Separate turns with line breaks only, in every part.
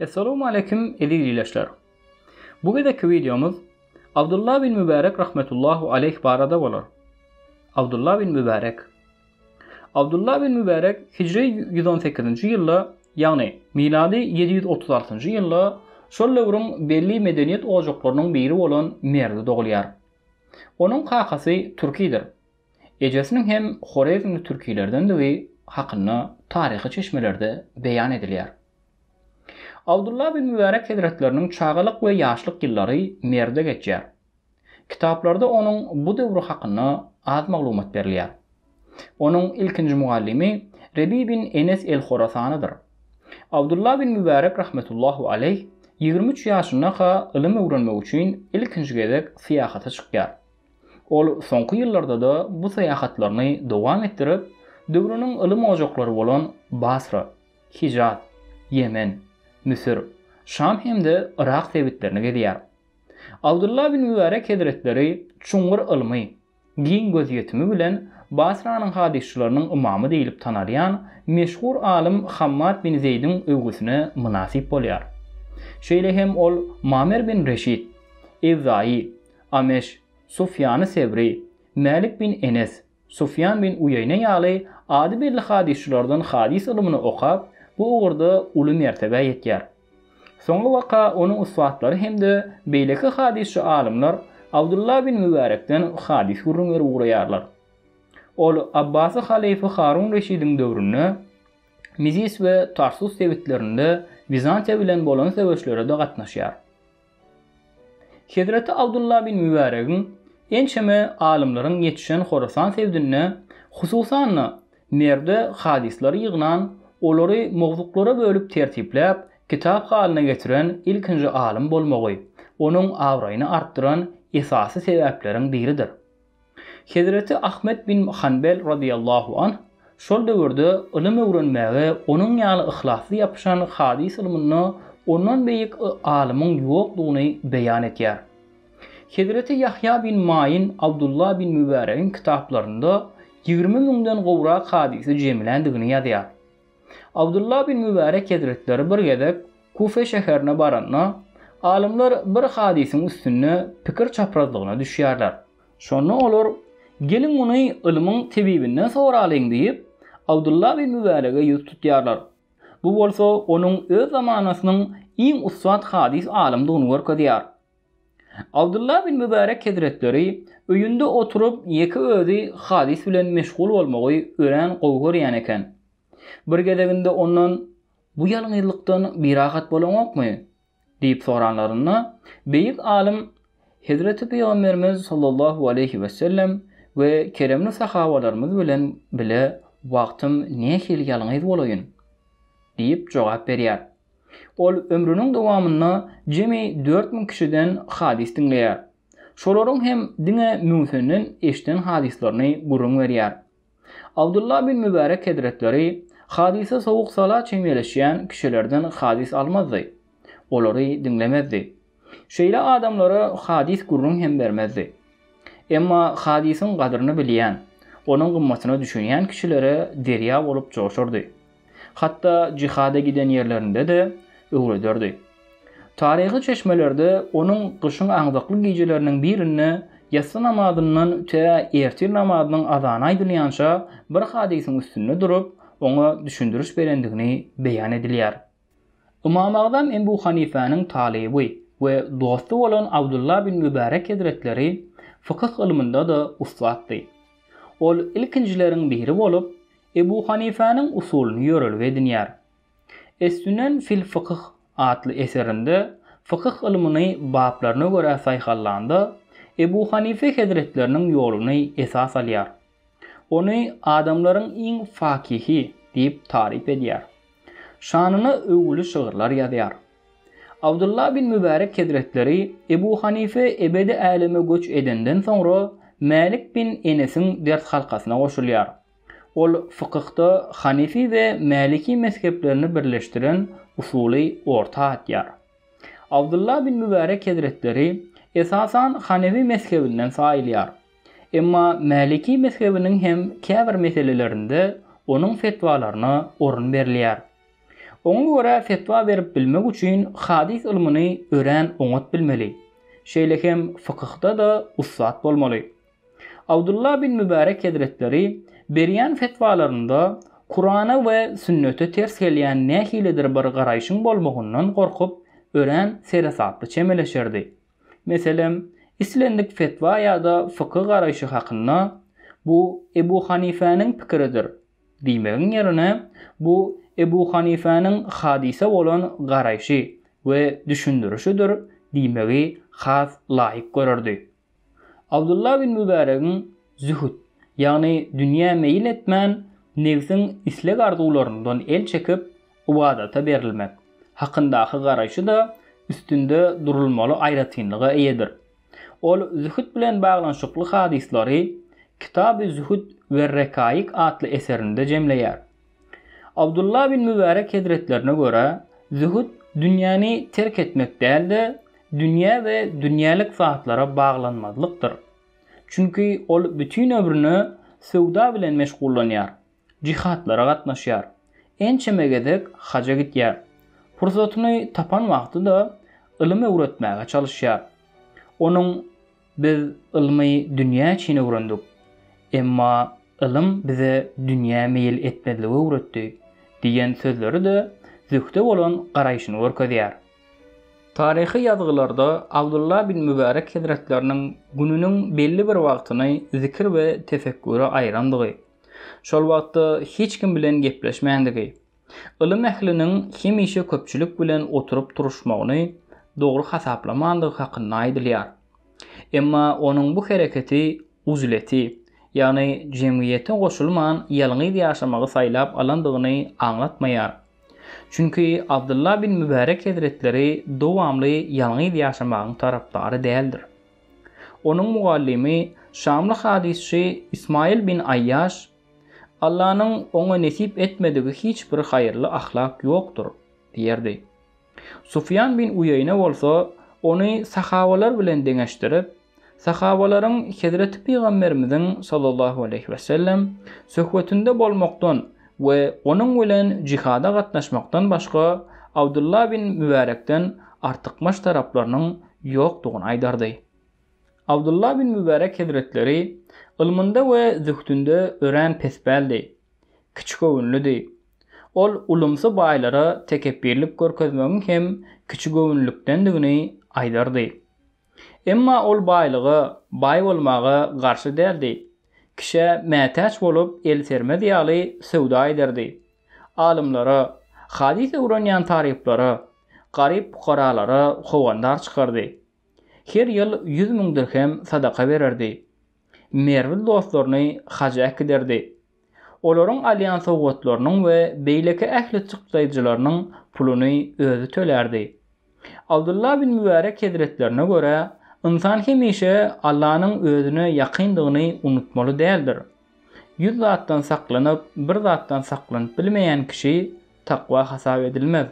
Essalamu aleýkum eziz ileçler. Bu gezekki wideomyz Abdullah bin Mübärek rahmetullahu aleýh barada bolar. Abdullah bin Mübärek. Abdullah bin Mübärek hijri ýüz on sekizinji ýylda, ýagny milady ýedi ýüz otuz altynjy ýylda şol döwrüň belli medeniýet ojaklarynyň biri bolan Merwde dogulýar. Onuň kakasy türkidir. ejesiniň hem horezmli türkilerdendigi hakynda taryhy çeşmelerde beýan edilýär. Abdulla bin Mübärek hezretleriniň çagalyk we ýaşlyk ýyllary Merwde geçýär. Kitaplarda onuň bu döwri hakynda az maglumat berilýär. Onuň ilkinji mugallymy Rebi bin Enes el-Horasanydyr. Abdulla bin Mübärek rahmetullahu aleýh ýigrimi üç ýaşyndaka ylym öwrenmek üçin ilkinji gezek syýahata çykýar. Ol soňky ýyllarda-da bu syýahatlaryny dowam etdirip, döwrüniň ylym ojaklary bolan Basra, Hijaz, Ýemen, Müsür, Şam hem-de Yrak sebitlerini gezýär. Abdylla bin Mübärek hezretleri çuňňur ylmy, giň gözýetimi bilen Basranyň hadysçylarynyň ymamy diýlip tanalýan meşhur alym Hammad bin Zeýdiň öwgüsine mynasyp bolýar. Şeýle hem ol Mamer bin Reşit, Ewzaýy, Ameş, Sufýany Sewri, Mälik bin Enes, Sufýan bin Uýeýne ýaly ady belli hadysçylardan hadys ylmyny okap, bu ugurda uly mertebä ýetýär. Soňky waka onuň ussatlary hem-de beýleki hadysçy alymlar Abdulla bin Mübärekden hadys gürrüň berip ugraýarlar. Ol Abbasy halyfa Harun Reşidiň döwründe Mizis we Tarsus sebitlerinde Wizantiýa bilen bolan söweşlere-de gatnaşýar. Hezreti Abdullah bin Mübäregiň ençeme alymlaryň ýetişen Horasan sebdinde, hususan-da, Merwde hadyslary ýygnan, olary mowzuklara bölüp tertipläp, kitap halyna getiren ilkinji alym bolmagy, onuň abraýyny artdyran esasy sebäpleriň biridir. Hezreti Ahmet bin Hanbel radiyallahu anh şol döwürde ylym öwrenmäge onuň ýaly yhlasly ýapyşan hadys ylmynda ondan beýik alymyň ýokdugyny beýan etýär. Hezreti Ýahýa bin Maýin Abdullah bin Mübäregiň kitaplarynda ýigrimi müňden gowrak hadysy jemländigini ýazýar. Abdullah bin Mübärek hezretleri bir gezek Kufe şäherine baranda, alymlar bir hadysyň üstünde pikir çaprazlygyna düşýärler. Şonda olar, Geliň muny ylmyň tebibinden soralyň diýip, Abdullah bin Mübärege ýüz tutýarlar. Bu bolsa onuň öz zamanasynyň iň ussat hadys alymdygyny görkezýär. Abdullah bin Mübärek hezretleri öýünde oturyp ýeke özi hadys bilen meşgul bolmagy örän gowy görýän eken. Bir gezeginde ondan, Bu ýalňyzlykdan birahat bolaňokmy? diýip soranlarynda, beýik alym, Hezreti Pygamberimiz sallallahu aleýhi wesellem we keremli sahabalarymyz bilen bile wagtym nähili ýalňyz bolaýyn? diýip jogap berýär. Ol ömrüniň dowamynda jemi dört müň kişiden hadys diňleýär. Şolaryň hem diňe müňüsenden eşden hadyslaryny gürrüň berýär. Abdullah bin Mübärek hezretleri hadysa sowuk-sala çemeleşýän kişilerden hadys almazdy. Olary diňlemezdi. Şeýle adamlara hadys gürrüň hem bermezdi. Emma hadysyň gadyryny bilýän, onuň gymmatyna düşünýän kişilere derýa bolup joşardy. Hatda jihada giden ýerlerinde-de öwrederdi. Taryhy çeşmelerde onuň gyşyň aňzakly gijeleriniň birinde ýassy namazyndan tä ertir namazynyň azany aýdylýança bir hadysyň üstünde durup, oňa düşündiriş berendigini beýan edilýär. Ymamagzam Ebu Hanyfäniň talyby we dosty bolan Abdulla bin Mübärek hezretleri fykyh ylmynda-da ussatdy. Ol ilkinjileriň biri bolup, Ebu Hanyfäniň usulyny ýörelge edinýär. Es-Sünen fil Fykyh atly eserinde fykyh ylmyny baplaryna görä saýhallanda, Ebu Hanyfy hezretleriniň ýoluny esas alýar. Ony adamlaryň iň fakyhy diýip taryp edýär. Şanyna öwgüli şygyrlar ýazýar. Abdylla bin Mübärek hezretleri Ebu Hanife ebedi äleme göç edenden soňra Mälik bin Enesiň ders halkasyna goşulýar. Ol fykyhda Hanefi we Mäliki mezheplerini birleşdiren usuly orta atýar. Abdylla bin Mübärek hezretleri, esasan, Hanefi mezhebinden saýylýar. Emma Maliki mezhebiniň hem käbir meselelerinde onuň fetwalaryna orun berilýär. Oňa görä fetwa berip bilmek üçin hadys ylmyny örän oňat bilmeli, şeýle hem fykyhda-da ussat bolmaly. Abdulla bin Mübärek hezretleri berýän fetwalarynda Kurana we sünnete ters gelýän nähilidir bir garaýşyň bolmagyndan gorkup, örän seresaply çemeleşerdi. Meselem, islendik fetwa ýa-da fyky garaýşy hakynda, Bu Ebu Hanifäniň pikiridir diýmegiň ýerine, Bu Ebu Hanifäniň hadysa bolan garaýşy we düşündirişidir diýmegi has laýyk görerdi. Abdullah bin Mübäregiň zühd, ýagny dünýä meýil etmän, nebsiň isleg-arzuwlaryndan el çekip, ybadata berilmek, hakyndaky garaýşy-da üstünde durulmaly aýratynlyga eýedir. Ol zühd bilen baglanyşykly hadyslary Kitab-y Zühd ve Rekaik atly eserinde jemleýär. Abdullah bin Mübärek hezretlerine görä, zühd dünýäni terk etmek däl-de, dünýä ve dünýelik zatlara baglanmazlykdyr. Çünki ol bütin ömrüni söwda bilen meşgullanýar. Jyhatlara gatnaşýar. Ençeme gezek haja gitýär. Pursatyny tapan wagty-da ylym öwretmäge çalyşýar. Onuň Biz ylmy dünýä üçin öwrendik. Emma ylym bize dünýä meýil etmezligi öwretdi diýen sözleri-de zühde bolan garaýşyny görkezýär. Taryhy ýazgylarda Abdulla bin Mübärek hezretleriniň gününiň belli bir wagtyny zikir we tefekküre aýyrandygy, Şol wagtda hiç kim bilen gepleşmändigi, ylym ähliniň hemişe köpçülik bilen oturyp-turuşmagyny dogry hasaplamandygy hakynda aýdylýar. Emma onuň bu hereketi uzleti, ýagny jemgyýete goşulman ýalňyz ýaşamagy saýlap alandygyny aňlatmaýar. Çünki Abdylla bin Mübärek hezretleri dowamly ýalňyz ýaşamagyň tarapdary däldir. Onuň mugallymy, şamly hadysçy Ismaýyl bin Aýýaş, Allanyň oňa nesip etmedigi hiç bir haýyrly ahlak ýokdur diýerdi. Sufýan bin Uýeýne bolsa ony sahabalar bilen deňeşdirip, sahabalaryň Hezreti Pygamberimiziň sallallahu aleýhi we sellem söhbetinde bolmakdan we onuň bilen jihada gatnaşmakdan başga Abdylla bin Mübärekden artykmaç taraplarynyň Ýokdugyny aýdardy. Abdulla bin Mübärek hezretleri ylmynda we zühdünde örän pespäldi, kiçigöwünlidi. Ol ulumsy baýlara tekepbirlik görkezmegiň hem kiçigöwünlikdendigini aýdardy. Emma ol baýlyga, baý bolmaga garşy däldi. Kişä mätäç bolup el sermez ýaly söwda ederdi. alymlara, hadys öwrenýän talyplara, garyp-pukaralara howandar çykardy. Her ýyl ýüz müň dirhem sadaka bererdi. Merwli dostlaryny haja äkiderdi. Olaryň alýan sowgatlarynyň we beýleki ähli çykdaýjylarynyň puluny özi tölärdi. Abdulla bin Mübärek hezretlerine görä, Ynsan hemişe Allanyň özüne ýakyndygyny unutmaly däldir. Ýüz zatdan saklanyp, bir zatdan saklanyp bilmeýän kişi takwa hasap edilmez.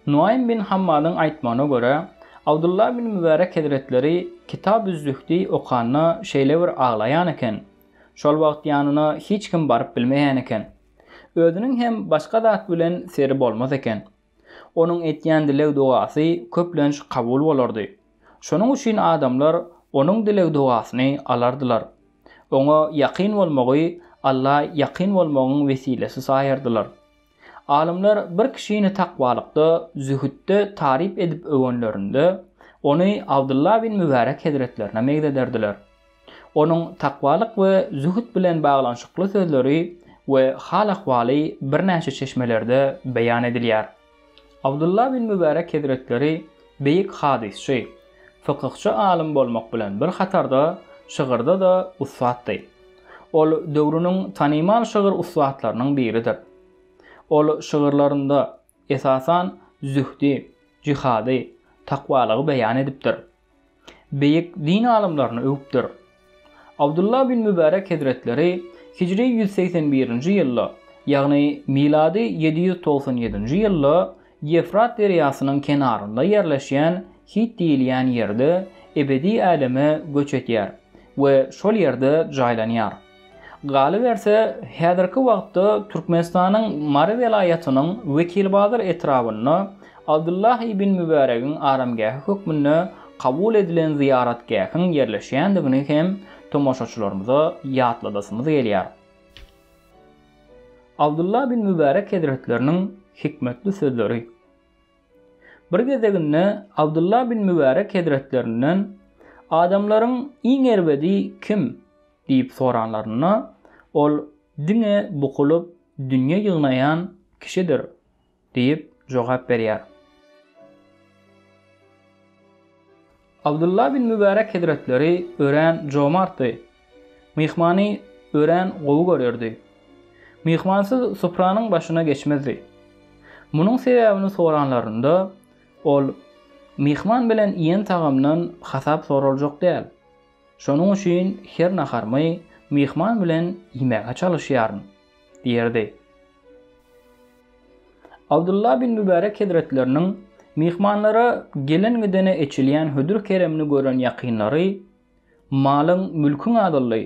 Nuaým bin Hammadyň aýtmagyna görä, Abdulla bin Mübärek hezretleri Kitabüz-Zühdi okanda şeýle bir aglaýan eken, şol wagt ýanyna hiç kim baryp bilmeýän eken. Özüniň hem başga zat bilen seri bolmaz eken. Onuň etýän dileg-dogasy köplenç kabul bolardy. Şonuň üçin adamlar onuň dileg-dogasyny alardylar. Oňa ýakyn bolmagy Alla ýakyn bolmagyň wesilesi saýardylar. Alymlar bir kişini takwalykda, zühütde taryp edip öwenlerinde, ony Abdylla bin Mübärek hezretlerine meňzederdiler. Onuň takwalyk we zühd bilen baglanyşykly sözleri we hal-ahwaly birnäçe çeşmelerde beýan edilýär. Abdulla bin Mübärek hezretleri beýik hadysçy, fykyhçy alym bolmak bilen bir hatarda şygyrda-da ussatdy. Ol döwrüniň tanymal şygyr ussatlarynyň biridir. Ol şygyrlarynda, esasan, zühdi, jihady, takwalygy beýan edipdir. beýik din alymlaryny öwüpdir. Abdulla bin Mübärek hezretleri hijri ýüz segsen birinji ýylda, ýagny milady ýedi ýüz togsan ýedinji ýylda Ýewfrat derýasynyň kenarynda ýerleşýän Hit diýilýän ýerde ebedi äleme göç edýär we şol ýerde jaýlanýar. Galyberse, häzirki wagtda Türkmenistanyň Mary welaýatynyň Wekilbazar etrabynda Abdullah ibn Mübäregiň aramgähi hökmünde kabul edilen zyýaratgähiň ýerleşýändigini hem tomaşaçylarymyza ýatladasymyz gelýär. Abdullah ibn Mübärek hezretleriniň hikmetli sözleri. Bir gezeginde Abdullah bin Mübärek hezretlerinden, Adamlaryň iň erbedi kim? diýip soranlarynda, ol, Diňe bukulyp, dünýe ýygnaýan kişidir diýip jogap berýär. Abdullah bin Mübärek hezretleri örän jomartdy. Myhmany örän gowy görerdi. Myhmansyz supranyň başyna geçmezdi. Munuň sebäbini soranlarynda, ol, Myhman bilen iýen tagamdan hasap soraljak däl. Şonuň üçin her naharymy myhman bilen iýmäge çalyşýaryn. diýerdi. Abdylla bin Mübärek hezretleriniň myhmanlara gelen-gidene eçilýän hödür-keremini gören ýakynlary, Malyň, mülküň azaldy,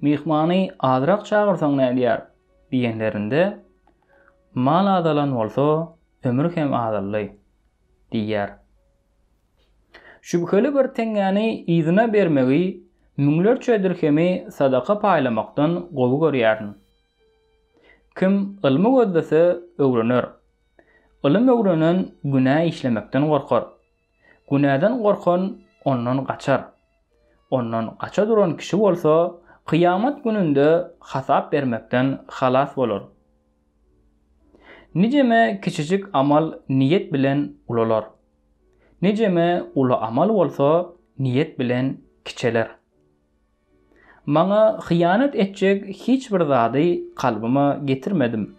myhmany azrak çagyrsaň nädýär? diýenlerinde, Mal azalan bolsa, ömür hem azaldy diýýär. Şübheli bir teňňäni yzyna bermegi, müňlerçe dirhemi sadaka paýlamakdan gowy görýärin. Kim ylmy gözlese, öwrener. Ylym öwrenen günä işlemekden gorkar. Günäden gorkan ondan gaçar. Ondan gaça duran kişi bolsa, kyýamat gününde hasap bermekden halas bolar. Nijeme kiçijik amal niýet bilen ulalar. Nijeme uly amal bolsa niýet bilen kiçeler. Maňa hyýanat etjek hiç bir zady kalbyma getirmedim.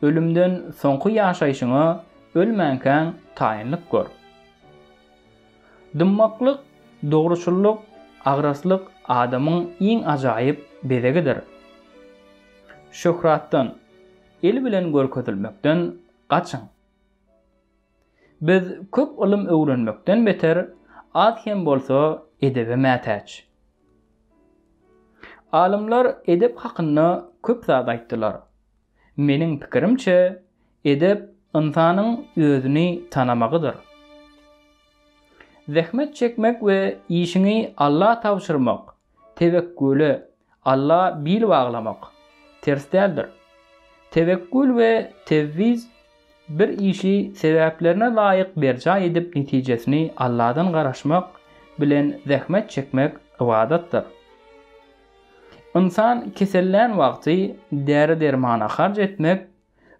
Ölümden soňky ýaşaýşyňa ölmänkäň taýynlyk gör. Dymmaklyk, dogruçyllyk, agraslyk adamyň iň ajaýyp bezegidir. Şöhratdan, il bilen görkezilmekden gaçyň. Biz köp ylym öwrenmekden beter, az hem bolsa edebe mätäç. Alymlar edep hakynda köp zat aýtdylar. Meniň pikirimçe, edep ynsanyň özüni tanamagydyr. Zähmet çekmek we işiňi Alla tabşyrmak Tewekküle Alla bil baglamak ters däldir. Tewekkül we tewwiz bir işi sebäplerine laýyk berjaý edip netijesini Alladan garaşmak bilen zähmet çekmek ybadatdyr. Ynsan kesellän wagty däri-dermana harç etmek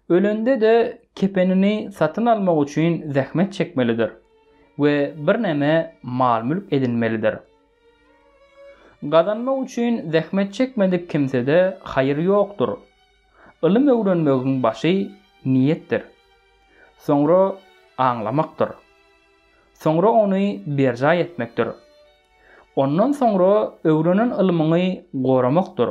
Ölende-de kepenini satyn almak üçin zähmet çekmelidir we birneme mal-mülk edinmelidir. Gazanmak üçin zähmet çekmedik kimsede haýyr ýokdur. Ylym öwrenmegiň başy niýetdir. Soňra aňlamakdyr. Soňra ony berjaý etmekdir. Ondan soňra öwrenen ylmyňy goramakdyr.